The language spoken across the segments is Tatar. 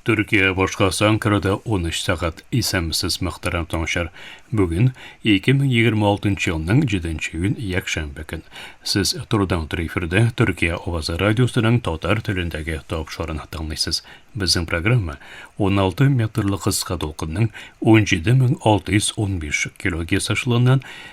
Төркия башкасы Анкарада 13 сәгать. Исәнмесез, мөхтәрәм тыңучылар. Бүген 2026 елның 7 нче июнь якшәмбе көн. Сез турыдан туры эфирдә Төркия авазы радиосының татар телендәге тапшырын тыңлыйсыз. Безнең программа 16 метрлы кыска дулкынның 17615 килогерц ашлыгыннан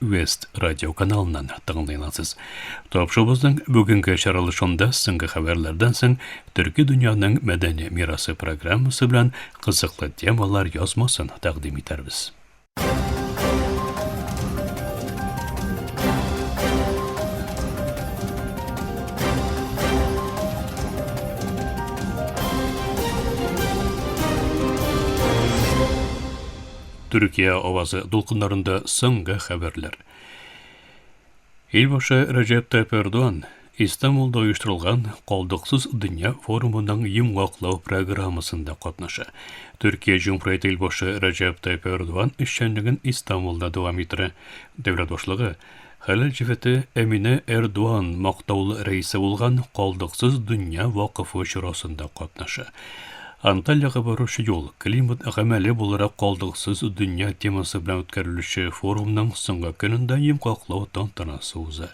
Вест радиоканалыннан тыңлый аласыз. Тапшыбызның бүгенге чаралышында соңгы хәбәрләрдән соң төрки дөньяның мәдәни мирасы программасы белән кызыклы темалар язмасын тәкъдим итәрбез. Төркия авазы дулкыннарында соңгы хәбәрләр. Ил башы Рәҗәп Тайп Эрдоган Истанбулда оештырылган Калдыксыз дөнья форумының йомгаклау программасында катнаша. Төркия Җумһурияте ил башы Рәҗәп Тайп Эрдоган эшчәнлеген Истанбулда дәвам иттерә. Дәүләт башлыгы Хәләл җефете Әминә Эрдуан мактаулы рәисе булган Калдыксыз дөнья вакыфы чарасында катнаша. Антальяга баручы юл, климат гамәли буларак калдыксыз дөнья темасы белән үткәрелүче форумның соңгы көнендә йомгаклау тантанасы уза.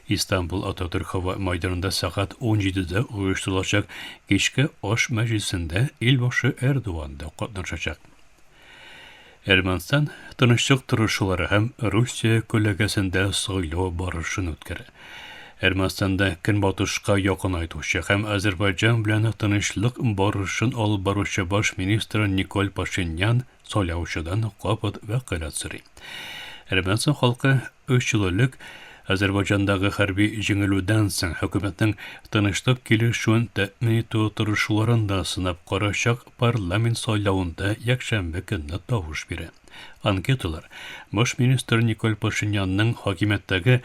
Истанбул Ататүрк һава майданында сәгать 17-дә оештырылачак кичке аш мәҗлесендә илбашы Эрдуан да катнашачак. Әрмәнстан тынычлык торышулары һәм Русия күләгәсендә сайлау барышын үткәрә. Әрмәнстанда көнбатышка якынайтучы һәм Азербайҗан белән тынычлык барышын алып баручы баш министр Николь Пашинян сайлаучыдан кабат вәкаләт сорый. Әрмәнстан халкы 3 ел элек Азербайҗандагы хәрби җиңелүдән соң хөкүмәтнең тынычлык килешүен тәэмин итү тырышуларын да сынап карачак парламент сайлавында якшәмбе көнне тавыш бирә. Анкеталар баш министр Николь Пашинянның хакимияттәге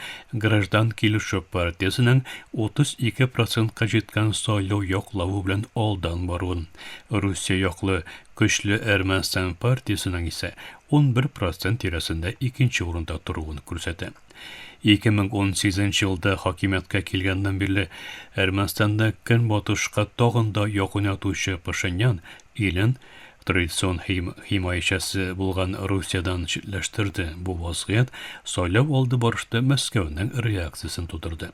Граждан килешү партиясенең 32 процентка җиткән сайлау яклавы белән алдан баруын, Русия яклы Көчле Әрмәнстан партиясенең исә 11 процент тирәсендә икенче урында торуын күрсәтә. 2018 елда хакимияткә килгәннән бирле Әрмәнстанда көнбатышка тагын да якын ятучы Пашинян илен традицион химаячәсе булган Русиядән читләштерде. Бу вазгыять сайлау алды барышта Мәскәүнең реакциясен тудырды.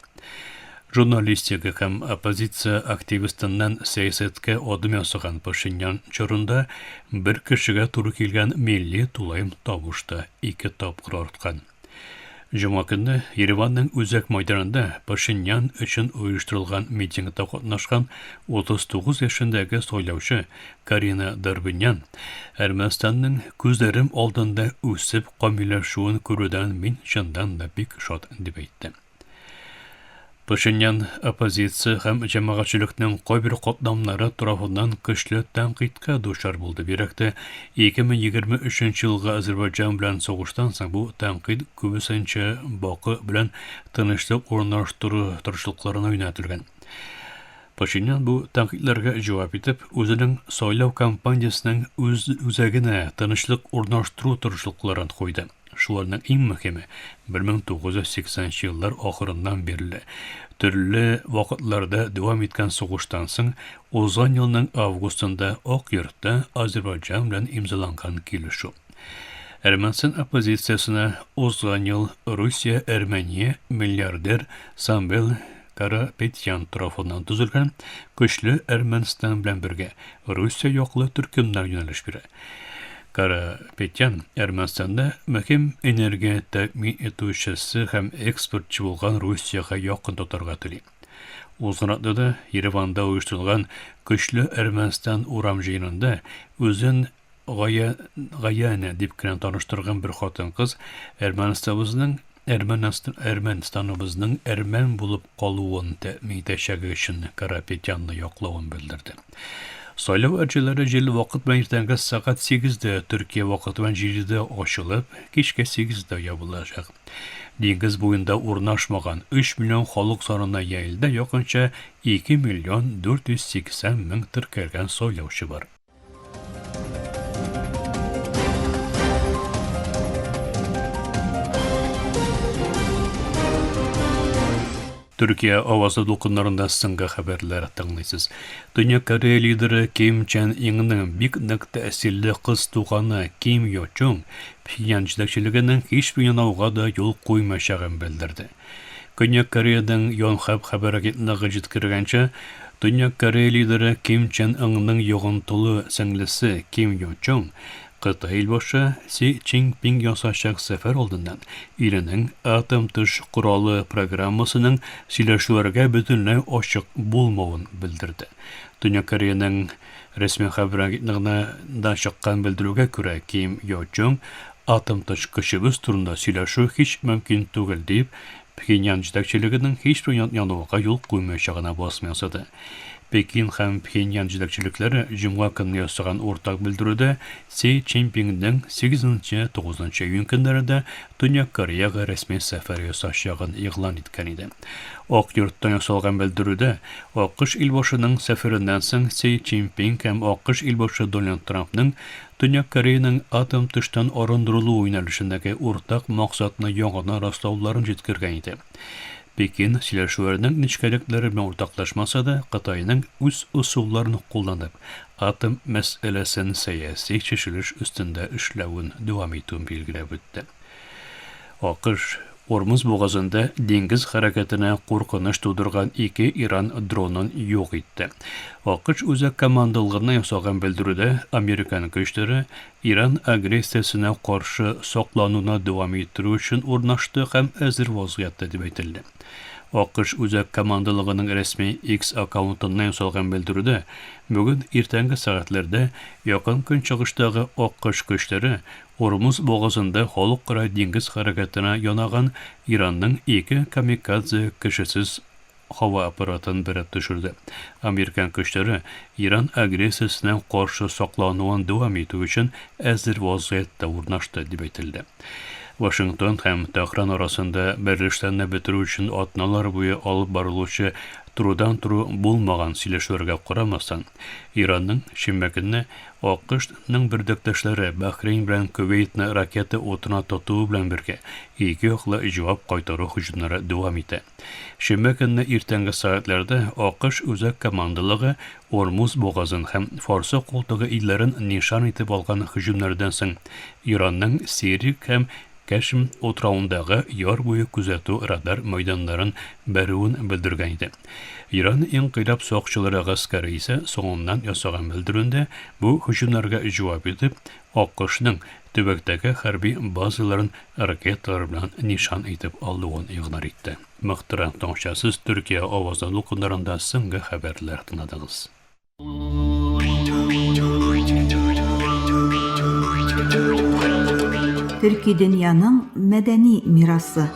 Журналистика һәм оппозиция активистыннан сәясәткә адым ясаган Пашинян чорында бер кешегә туры килгән милли тулаем тавышта ике тапкыр арткан. Җома көнне Ереванның үзәк майданында Пашинян өчен оештырылган митингта катнашкан 39 яшендәге сайлаучы Карина Дорбинян Әрмәнстанның күзләрем алдында үсеп камилләшүен күрүдән мин чыннан да бик шат дип әйтте. Пашинян оппозиция һәм җәмәгатьчелекнең кайбер катламнары тарафыннан көчле тәнкыйтькә дучар булды. Бигрәк тә 2023 елгы Азербайҗан белән сугыштан соң бу тәнкыйть күбесенчә Баку белән тынычлык урнаштыру тырышлыкларына юнәлтелгән. Пашинян бу тәнкыйтьләргә җавап итеп, үзенең сайлау кампаниясенең үз үзәгенә тынычлык урнаштыру тырышлыкларын куйды. Шуларның иң мөхиме, 1980 еллар ахырыннан бирле, төрле вакытларда дәвам иткән сугыштан соң, узган елның августында Ак йортта Азербайҗан белән имзаланган килешү. Әрмәнстан оппозициясенә узган ел Русия Әрмәния миллиардер Самвел Карапетян тарафыннан төзелгән көчле Әрмәнстан белән бергә Русия яклы төркемнәр юнәлеш бирә. Карапетян Әрмәнстанда мөһим энергия тәэмин итүчесе һәм экспортчы булган Русиягә якын тотарга тели. Узган атнада Ереванда оештырылган көчле Әрмәнстан урам җыенында үзен Гая, Гаяна дип кенә таныштырган бер хатын-кыз Әрмәнстабызның Әрмәнстаныбызның әрмән булып калуын тәэмин итәчәге өчен Карапетянны яклавын белдерде. Сайлау әрҗәләре җирле вакыт белән иртәнге сәгать 8-дә, Төркия вакыты белән 7-дә ачылып, кичке 8-дә ябылачак. Диңгез буенда урнашмаган 3 миллион халык санына Яэльдә якынча 2 миллион 480 мең теркәлгән сайлаучы бар. Төркия авазы дулкыннарында соңгы хәбәрләр тыңлыйсыз. Дөнья Корея лидеры Ким Чен Иңның бик нык тәэсирле кыз туганы Ким Йо Чун Пхеньян җитәкчелегенең һичбер юнауга да юл куймаячагын белдерде. Көньяк Кореядән Йонхэп хәбәр агентлыгы җиткергәнчә, Төньяк Корея лидеры Ким Чен Ыңның йогынтылы сеңлесе Ким Йо Чонг Кытай илбашы Си Цзиньпин ясачак сәфәр алдыннан иленең атом төш коралы программасының сөйләшүләргә бөтенләй ачык булмавын белдерде. Төньяк Кореянең Рәсми хәбәр агентлыгында чыккан белдерүгә күрә, Ким Йо Чунг атомточ көчебез турында сөйләшү һич мөмкин түгел дип, Пхеньян җитәкчелегенең һичбер януга юл куймаячагына басым ясады. Пекин һәм Пхеньян җитәкчелекләре җомга көнне ясаган уртак белдерүдә Си Цзиньпинның сигезенче-тугызынчы июнь көннәре дә Төньяк Кореяга рәсми сәфәр ясаячагын игълан иткән иде. Ак йорттан ясалган белдерүдә, АКШ илбашының сәфәреннән соң Си Цзиньпин һәм АКШ илбашы Дональд Трампның Төньяк Кореяның атом төштән арындырылуы юнәлешендәге уртак максатны яңадан раслауларын җиткергән иде. Пекин, сөйләшүләрнең нечкәлекләре белән уртаклашмаса да, Кытайның үз ысулларын кулланып, Атом мәсьәләсен сәяси чишелеш өстендә эшләвен дәвам итүен билгеләп үтте. АКШ, Ормуз бугазында диңгез хәрәкәтенә куркыныч тудырган ике Иран дронын юк итте. АКШ Үзәк командалыгына ясаган белдерүдә американ көчләре Иран агрессиясенә каршы саклануны дәвам иттерү өчен урнашты һәм әзер вазгыятьтә дип әйтелде. АКШ Үзәк командалыгының рәсми X аккаунтыннан ясалган белдерүдә Бүген иртәнге сәгатьләрдә Якын Көнчыгыштагы аккош көчләре Урмуз бугазында халыкара диңгез хәрәкәтенә янаган Иранның ике камикадзе кешесез һава аппаратын бәреп төшерде. Американ көчләре Иран агрессиясенә каршы саклануын дәвам итү өчен әзер вазгыятьтә урнашты, дип әйтелде. Вашингтон һәм Тәһран арасында Берлиштанны бетерү өчен атналар буе алып барылучы турудан-туру булмаган сөйләшүләргә карамастан, Иранның шимбә көнне АКШның бер дәптәшләре Бахрейн белән Кувейтны ракета утына тотуы белән бергә, ике яклы җавап кайтару һөҗүмнәре дәвам итә. Шимбә көнне иртәнге сәгатьләрдә АКШ үзәк командалыгы Ормуз бугазын һәм Фарсы култыгы илләрен нишан итеп алган һөҗүмнәрдән соң Иранның Сирик һәм Кәшм утравындагы яр буе күзәтү радар мәйданнарын бәрүен белдергән иде. Иран инкыйлаб сакчылары гаскәре исә соңыннан ясаган белдерүендә бу һөҗүмнәргә җавап итеп, АКШның төбәктәге хәрби базаларын ракеталар белән нишан итеп алуын игълан итте. Мыктырак таңчасыз Төркия авазы дулкыннарында соңгы хәбәрләр тыңладыгыз. Төрки дөньяның мәдәни мирасы.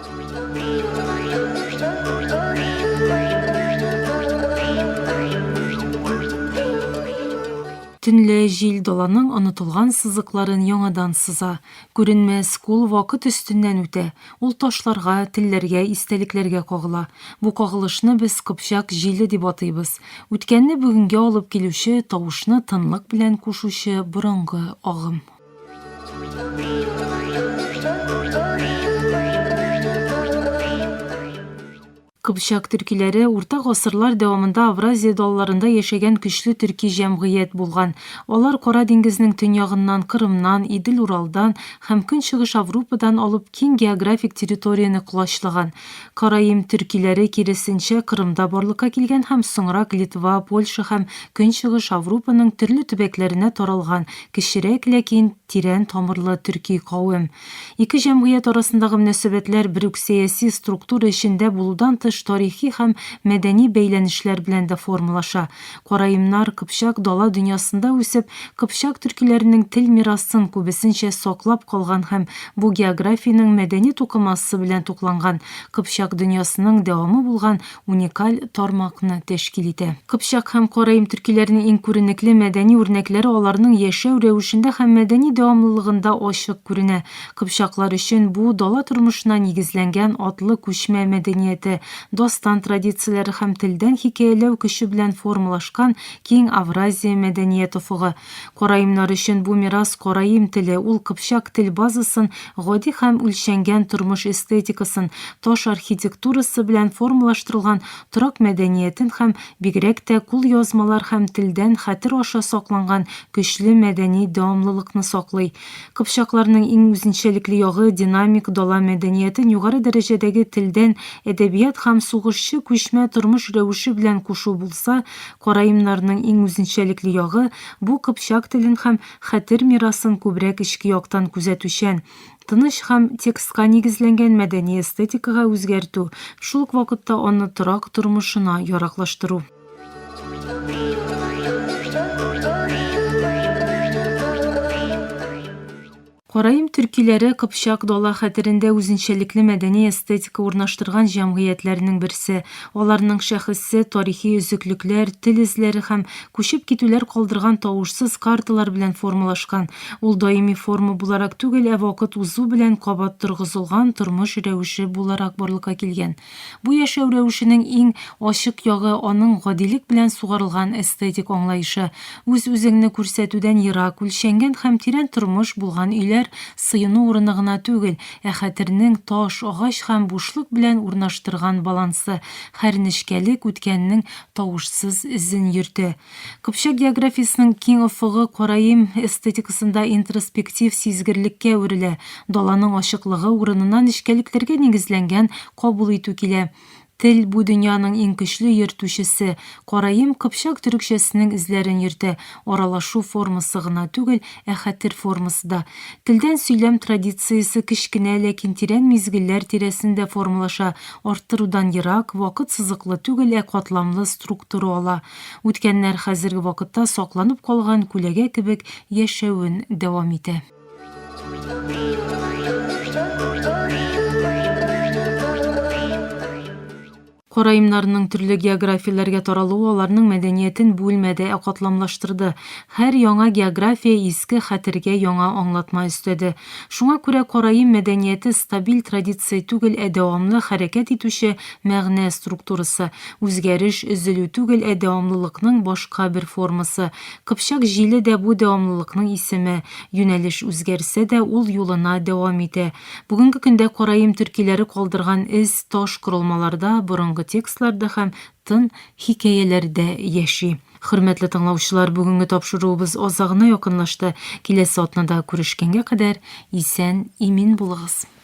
Төнлә җил даланың онытылган сызыкларын яңадан сыза. Күренмәс кул вакыт өстеннән үтә, ул ташларга, телләргә, истәлекләргә кагыла. Бу кагылышны без Кыпчак җиле дип атыйбыз. Үткәнне бүгенгә алып килүче, тавышны тынлык белән кушучы борынгы агым. Кыпчак төркиләре урта гасырлар дәвамында Авразия далларында яшәгән көчле төрки җәмгыять булган. Алар Кара диңгезнең төньягыннан, Кырымнан, Идел Уралдан һәм Көнчыгыш Аврупадан алып киң географик территорияне колачлаган. Караим төркиләре, киресенчә, Кырымда барлыкка килгән һәм соңрак Литва, Польша һәм Көнчыгыш Аврупаның төрле төбәкләренә таралган кечерәк, ләкин тирән тамырлы төрки кавем. Ике җәмгыять арасындагы мөнәсәбәтләр бер үк сәяси структура эчендә булудан тыш тарихи һәм мәдәни бәйләнешләр белән дә формалаша. Караимнар Кыпчак дала дөньясында үсеп, кыпчак төркиләренең тел мирасын күбесенчә саклап калган һәм бу географиянең мәдәни тукымасы белән тукланган, кыпчак дөньясының дәвамы булган уникаль тармакны тәшкил итә. Кыпчак һәм караим төркиләренең иң күренекле мәдәни үрнәкләре аларның яшәү рәвешендә һәм мәдәни дәвамлылыгында ачык күренә. Кыпчаклар өчен бу, дала тормышына нигезләнгән атлы күчмә мәдәнияте, дастан традицияләре һәм телдән хикәяләү көче белән формалашкан киң Авразия мәдәният офыгы. Караимнар өчен бу мирас караим теле, ул кыпчак тел базасын, гади һәм үлчәнгән тормыш эстетикасын, таш архитектурасы белән формалаштырылган торак мәдәниятен һәм, бигрәк тә, кулъязмалар һәм телдән хәтер аша сакланган көчле мәдәни дәвамлылыкны саклый. Кыпчакларның иң үзенчәлекле ягы, динамик дала мәдәниятен югары дәрәҗәдәге телдән, әдәбият һәм сугышчы күчмә тормыш рәвеше белән кушу булса, Караимнарның иң үзенчәлекле ягы, бу кыпчак телен һәм хәтер мирасын күбрәк эчке яктан күзәтүчән, тыныч һәм текстка нигезләнгән мәдәни эстетикага үзгәртү, шул ук вакытта аны торак тормышына яраклаштыру. Караим төркиләре Кыпчак дала хәтерендә үзенчәлекле мәдәни эстетика урнаштырган җәмгыятьләрнең берсе. Аларның шәхесе, тарихи өзеклекләр, тел эзләре һәм күчеп китүләр калдырган тавышсыз карталар белән формалашкан. Ул даими форма буларак түгел, ә вакыт узу белән кабат торгызылган тормыш рәвеше буларак барлыкка килгән. Бу яшәү рәвешенең иң ачык ягы аның гадилек белән сугарылган эстетик аңлаешы. Үз-үзеңне күрсәтүдән ерак, үлчәнгән һәм тирән тормыш булган өйләр сыену урыны гына түгел, ә хәтернең таш, агач һәм бушлык белән урнаштырган балансы, хәрнечкәлек үткәннең тавышсыз эзен йөртә. Кыпчак географиясенең киң офыгы караим эстетикасында интроспектив сизгерлеккә әверелә, даланың ачыклыгы урынына нечкәлекләргә нигезләнгән кабул итү килә. Тел, бу дөньяның иң көчле йөртүчесе. Караим кыпчак төрекчәсенең эзләрен йөртә, аралашу формасы гына түгел, ә хәтер формасы да. Телдән сөйләм традициясе кечкенә, ләкин тирән мизгелләр тирәсендә формалаша, арттырудан ерак, вакыт сызыклы түгел, ә катламлы структура ала. Үткәннәр хәзерге вакытта сакланып калган күләгә кебек яшәвен дәвам итә. Караимнарның төрле географияләргә таралуы аларның мәдәниятен бүлмәде, ә катламлаштырды. Һәр яңа география иске хәтергә яңа аңлатма өстәде. Шуңа күрә караим мәдәнияте стабиль традиция түгел, ә дәвамлы хәрәкәт итүче Мәгънә структурасы, үзгәреш, өзелү түгел, ә дәвамлылыкның башка бер формасы. Кыпчак җиле дә бу дәвамлылыкның исеме. Юнәлеш үзгәрсә дә, ул юлына дәвам итә. Бүгенге көндә караим төркиләре калдырган эз таш корылмаларда, борынгы текстларда һәм тын хикәяләрдә яши. Хөрмәтле тыңлаучылар, бүгенге тапшыруыбыз азагына якынлашты. Киләсе атнада күрешкәнгә кадәр исән-имин булыгыз!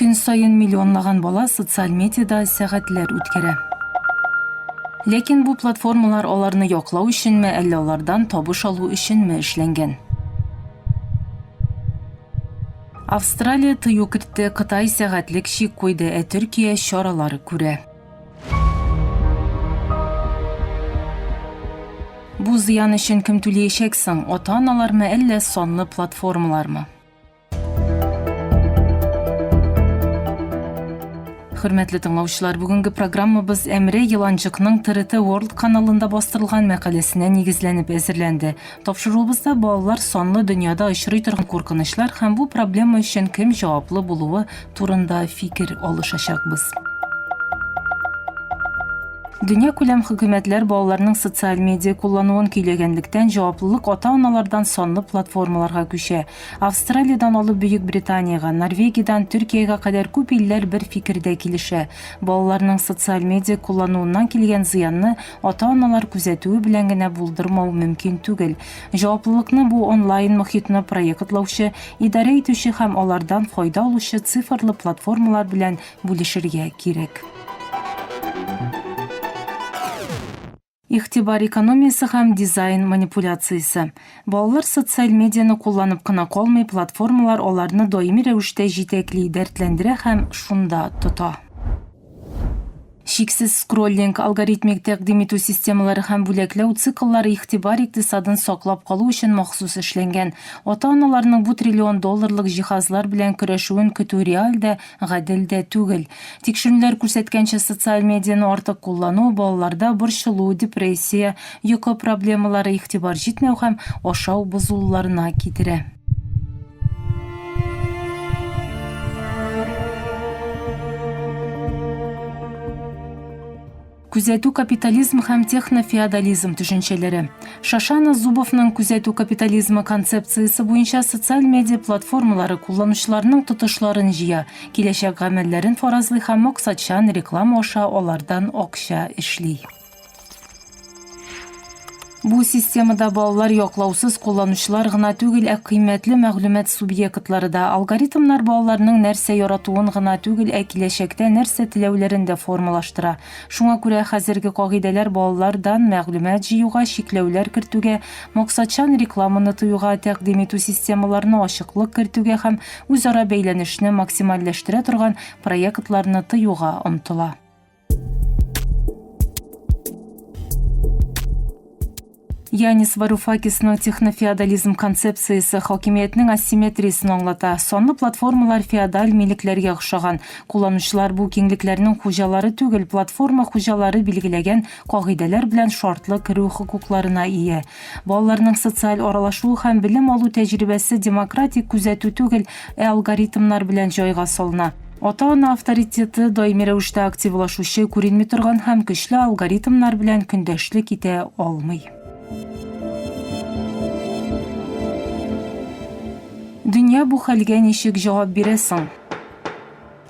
Көн саен миллионлаган бала социаль медиада сәгатьләр үткәрә. Ләкин бу платформалар аларны яклау өченме, әллә алардан табыш алу өченме эшләнгән? Австралия тыю кертте, Кытай сәгатьлек чик куйды, ә Төркия чаралар күрә. Бу зыян өчен кем түлиячәк соң, ата-аналармы, әллә санлы платформалармы? Хөрмәтле тыңлаучылар, бүгенге программабыз Әмре Еланчыкның ТРТ World каналында бастырылган мәкаләсенә нигезләнеп әзерләнде. Тапшыруыбызда балалар санлы дөньяда очрый торган куркынычлар һәм бу проблема өчен кем җаваплы булуы турында фикер алышачакбыз. Дөнья күләм хөкүмәтләр балаларның социаль медиа куллануын көйләгәнлектән җаваплылык ата-аналардан санлы платформаларга күчә. Австралиядән алып Бөек Британиягә, Норвегиядән Төркиягә кадәр күп илләр бер фикердә килешә, балаларның социаль медиа куллануыннан килгән зыянны ата-аналар күзәтүе белән генә булдырмау мөмкин түгел. Җаваплылыкны бу онлайн мохитны проектлаучы, идарә итүче һәм алардан файда алучы цифрлы платформалар белән бүлешергә кирәк. Игътибар экономиясе һәм дизайн манипуляциясе. Балалар социаль медианы кулланып кына калмый, платформалар аларны даими рәвештә җитәкли, дәртләндерә һәм шунда тота. Чиксез скроллинг, алгоритмик тәкъдим итү системалары һәм бүләкләү цикллары игътибар икътисадын саклап калу өчен махсус эшләнгән. Ата-аналарның бу триллион долларлык җиһазлар белән көрәшүен көтү реаль дә, Гадел дә түгел. Тикшерүләр күрсәткәнчә, социаль медианы артык куллану балаларда борчылу, депрессия, йокы проблемалары, игътибар җитмәү һәм ашау бозылуларына китерә. Күзәтү капитализм һәм технофеодализм төшенчәләре. Шашана Зубовның күзәтү капитализмы концепциясе буенча социаль медиа платформалары кулланучыларның тотышларын җыя, киләчәк гамәлләрен фаразлый һәм максатчан реклама аша алардан акча эшли. Бу системада балалар яклаусыз кулланучылар гына түгел, ә кыйммәтле мәгълүмат субъектлары да. Алгоритмнар балаларның нәрсә яратуын гына түгел, ә киләчәктә нәрсә теләүләрен дә формалаштыра. Шуңа күрә хәзерге кагыйдәләр балалардан мәгълүмат җыюга чикләүләр кертүгә, максатчан рекламаны тыюга, тәкъдим итү системаларына ачыклык кертүгә һәм үзара бәйләнешне максимальләштерә торган проектларны тыюга омтыла. Янис Варуфакисның технофеодализм концепциясе хакимиятнең асимметриясен аңлата. Санлы платформалар феодаль милекләргә охшаган. Кулланучылар бу киңлекләрнең хуҗалары түгел, платформа хуҗалары билгеләгән кагыйдәләр белән шартлы керү хокукларына ия. Балаларның социаль аралашуы һәм белем алу тәҗрибәсе демократик күзәтү түгел, ә алгоритмнар белән җайга салына. Ата-ана авторитеты даими рәвештә активлашучы, күренми торган һәм көчле алгоритмнар белән көндәшлек итә алмый. Дөнья бу хәлгә ничек җавап бирә соң?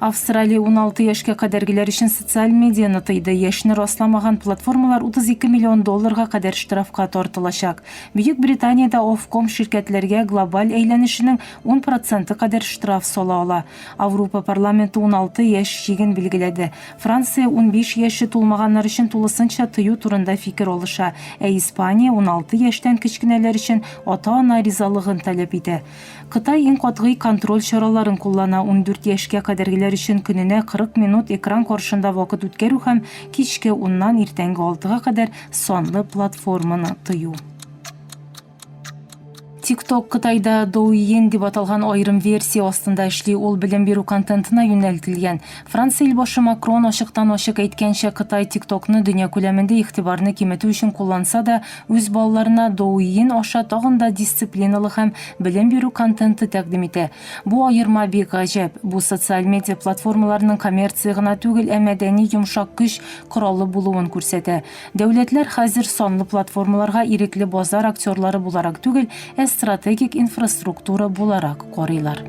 Австралия уналты яшькә кадәргеләр өчен социаль медианы тыйды, яшьне расламаган платформалар 32 миллион долларга кадәр штрафка тартылачак. Бөекбританиядә Ofcom ширкәтләргә глобаль әйләнешенең ун проценты кадәр штраф сала ала. Аурупа парламенты уналты яшь чиген билгеләде. Франция унбиш яше тулмаганнар өчен тулысынча тыю турында фикер алыша, ә Испания уналты яшьтән кечкенәләр өчен ата-ана ризалыгын таләп итә. Кытай иң катгый контроль чараларын куллана, ундүрт яшькә кадәргеләр өчен көненә 40 минут экран каршында вакыт үткәрү һәм кичке уннан иртәнге алтыга кадәр санлы платформаны тыю. TikTok Кытайда Douyin дип аталган аерым версия астында эшли, ул белем бирү контентына юнәлтелгән. Франция илбашы Макрон ачыктан-ачык әйткәнчә, Кытай TikTok-ны дөнья күләмендә игътибарны киметү өчен кулланса да, үз балаларына Douyin аша тагын да дисциплиналы һәм белем бирү контенты тәкъдим итә. Бу аерма бик гаҗәп. Бу социаль медиа платформаларының коммерция гына түгел, ә мәдәни йомшак көч коралы булуын күрсәтә. Дәүләтләр хәзер санлы платформаларга ирекле базар актерлары буларак түгел, ә стратегик инфраструктура буларак карыйлар.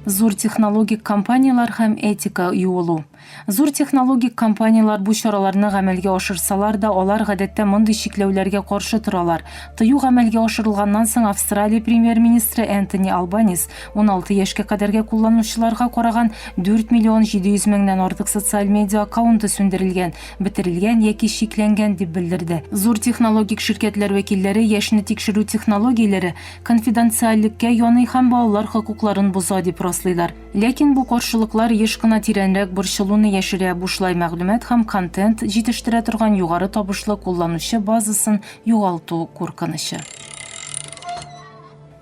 Зур технологик компанияләр һәм этика юылу. Зур технологик компанияләр бу чараларны гамәлгә ашырсалар да, алар гадәттә мондый чикләүләргә каршы торалар. Тыю гамәлгә ашырылганнан соң Австралия премьер-министры Энтони Албанис уналты яшькә кадәрге кулланучыларга караган 4 миллион 700 меңнән артык социаль медиа аккаунты сүндерелгән, бетерелгән яки чикләнгән дип белдерде. Зур технологик ширкәтләр вәкилләре яшьне тикшерү технологияләре конфиденциальлеккә яный һәм балалар хокукларын боза дип раслыйлар. Ләкин бу каршылыклар еш кына тирәнрәк борчылуны яшерә, бушлай мәгълүмат һәм контент җитештерә торган югары табышлы кулланучы базасын югалту куркынычы.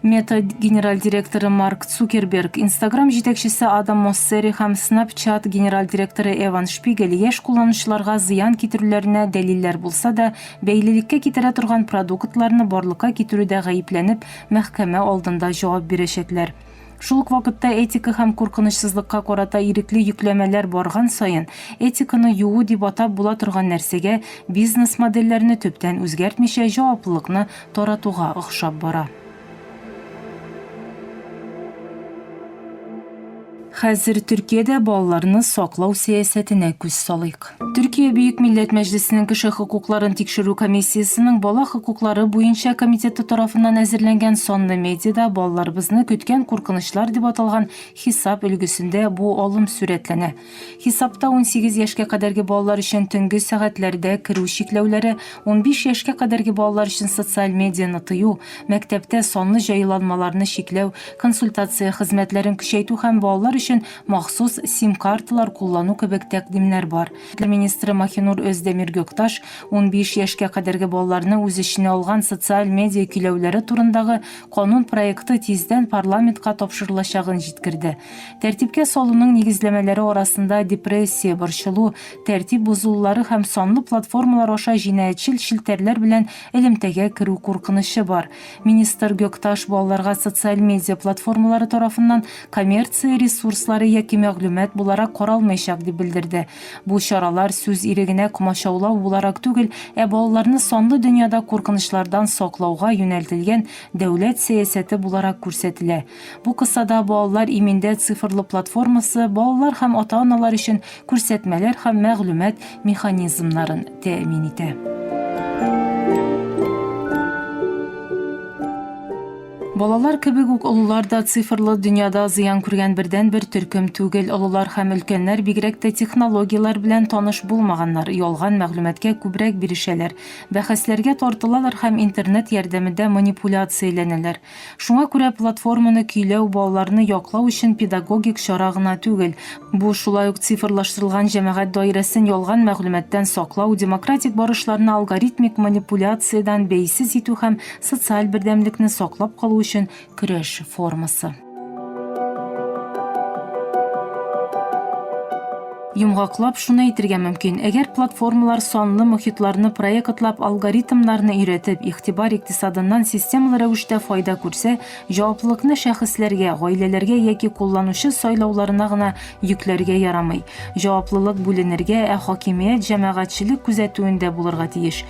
Meta генераль директоры Марк Цукерберг, Instagram җитәкчесе Адам Моссери һәм Snapchat генераль директоры Эван Шпигель яшь кулланучыларга зыян китерүләренә дәлилләр булса да, бәйлелеккә китерә торган продуктларны барлыкка китерүдә гаепләнеп, мәхкәмә алдында җавап бирәчәкләр. Шул ук вакытта этика һәм куркынычсызлыкка карата ирекле йөкләмәләр барган саен, этиканы юу дип атап була торган нәрсәгә, бизнес-модельләрне төптән үзгәртмичә, җаваплылыкны таратуга охшап бара. Хәзер Төркиядә балаларны саклау сәясәтенә күз салыйк. Төркия Бөек Милләт Мәҗлесенең кеше хокукларын тикшерү комиссиясенең бала хокуклары буенча комитеты тарафыннан әзерләнгән санлы медиада балаларыбызны көткән куркынычлар дип аталган хисап өлгесендә бу алым сурәтләнә. Хисапта унсигез яшькә кадәрге балалар өчен төнге сәгатьләрдә керү чикләүләре, унбиш яшькә кадәрге балалар өчен социаль медианы тыю, мәктәптә санлы җайланмаларны чикләү, консультация хезмәтләрен көчәйтү һәм балалар өчен махсус сим-карталар куллану кебек тәкъдимнәр бар. Тел министры Маһинур Өздәмир Гөкташ унбиш яшькә кадәрге балаларны үз эченә алган социаль медиа көйләүләре турындагы канун проекты тиздән парламентка тапшырылачагын җиткерде. Тәртипкә салуның нигезләмәләре арасында депрессия, борчылу, тәртип бозылулары һәм санлы платформалар аша җинаятьчел челтәрләр белән элемтәгә керү куркынычы бар. Министр Гөкташ балаларга социаль медиа платформалары тарафыннан коммерция ресурслары яки мәгълүмат буларак каралмаячак, дип белдерде. Бу чаралар сүз ирегенә комачаулау буларак түгел, ә балаларны санлы дөньяда куркынычлардан саклауга юнәлтелгән дәүләт сәясәте буларак күрсәтелә. Бу кысада Балалар иминдә цифрлы платформасы балалар һәм ата-аналар өчен күрсәтмәләр һәм мәгълүмат механизмнарын тәэмин итә. Балалар кебек үк олылар да цифрлы дөньяда зыян күргән бердәнбер төркем түгел. Олылар һәм өлкәннәр бигрәк тә технологияләр белән таныш булмаганнар, ялган мәгълүматкә күбрәк бирешәләр, бәхәсләргә тартылалар һәм интернет ярдәмендә манипуляцияләнәләр. Шуңа күрә платформаны көйләү балаларны яклау өчен педагогик чара гына түгел, бу, шулай ук цифрлаштырылган җәмәгать даирәсен ялган мәгълүматтан саклау, демократик барышларны алгоритмик манипуляциядән бәйсез итү һәм социаль бердәмлекне саклап калу өчен көрәш формасы. Йомгаклап шуны әйтергә мөмкин, әгәр платформалар санлы мохитларны проектлап, алгоритмнарны өйрәтеп, игътибар икътисадыннан системалы рәвештә файда күрсә, җаваплылыкны шәхесләргә, гаиләләргә яки кулланучы сайлауларына гына йөкләргә ярамый. Җаваплылык бүленергә, ә хакимият җәмәгатьчелек күзәтүендә булырга тиеш.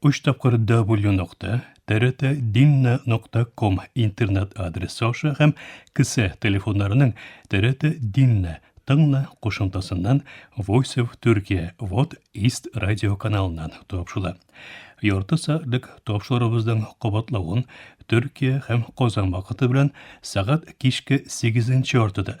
Өч тапкыр W нокта, TRT Dinna нокта ком интернет адресы аша һәм кесә телефоннарының TRT Dinna тыңна кушымтасыннан Voice of Turkey Вот East радио каналыннан тапшыла. Ярты сәгатьлек тапшырыбызның кабатлавын Төркия һәм Казан вакыты белән сәгать кичке 8 яртыда